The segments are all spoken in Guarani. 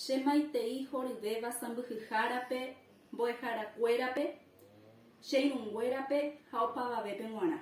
Che maitei horyvéva sãmbyhyhárape, mbo'eharakuérape, che irũnguérape ha opavavépe g̃uarã.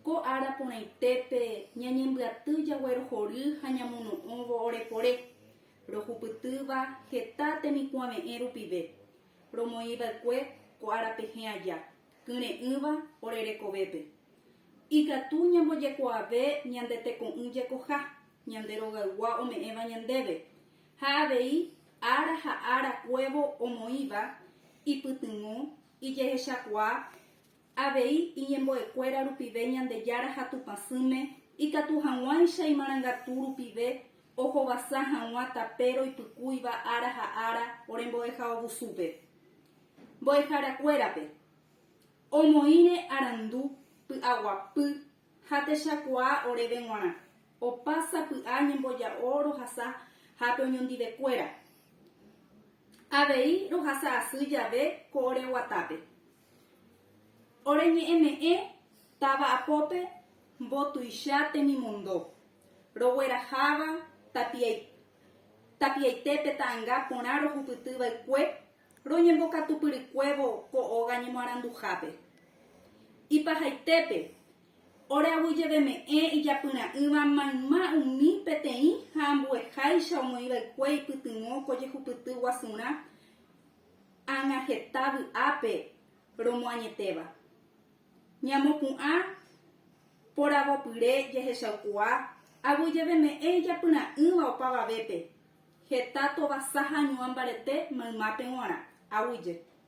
Ko ára porãitépe ñañembyaty jaguerohory ha ñamono'õvo orepore, rohupytýva heta temikuãve'ẽ rupive, romoĩva'ekue ko ára pehẽ aja. kyre'ỹva ore rekovépe. Ikatu ñambojekuaave ñande teko'ỹ jekoha ñande rogaygua ome'ẽva ñandéve, ha avei ára ha ára kuévo omoĩva ipytyvõ, ijehechakuaa, avei iñembo'ekuéra rupive Ñandejára ha Tupã sỹme, ikatu hag̃uáicha imarangatu rupive ohovasa hag̃ua tape roipykúiva ára ha ára ore mbo'ehaovusúpe. Mbo'eharakuérape, omoĩre arandu py'aguapy ha techakuaa oréve g̃uarã, opa sapy'a ñemboja'o rohasa hápe oñondivekuéra. Avei rohasa asy jave ko ore guatápe, ore ñe'ẽme'ẽ táva apópe mbotuicha temimondo, rogueraháva tapiai Tapiaite pe ta'anga porã rohupyty vaikue roñembokatupyrykuévo ko óga ñemoaranduhápe. Ipahaitépe, ore aguyjeveme'ẽ ijapyra'ỹva mayma umi peteĩ ha ambueháicha omoĩ vaikue ipytyvõ ko jehupyty guasurã ág̃a heta vy'ápe romoañetéva. Ñamopu'ã poravopyre jahechaukuaa aguyjeveme'ẽ ijapyra'ỹva opavavépe, heta tovasa ha ñuã mbarete maymápe g̃uarã, aguyje.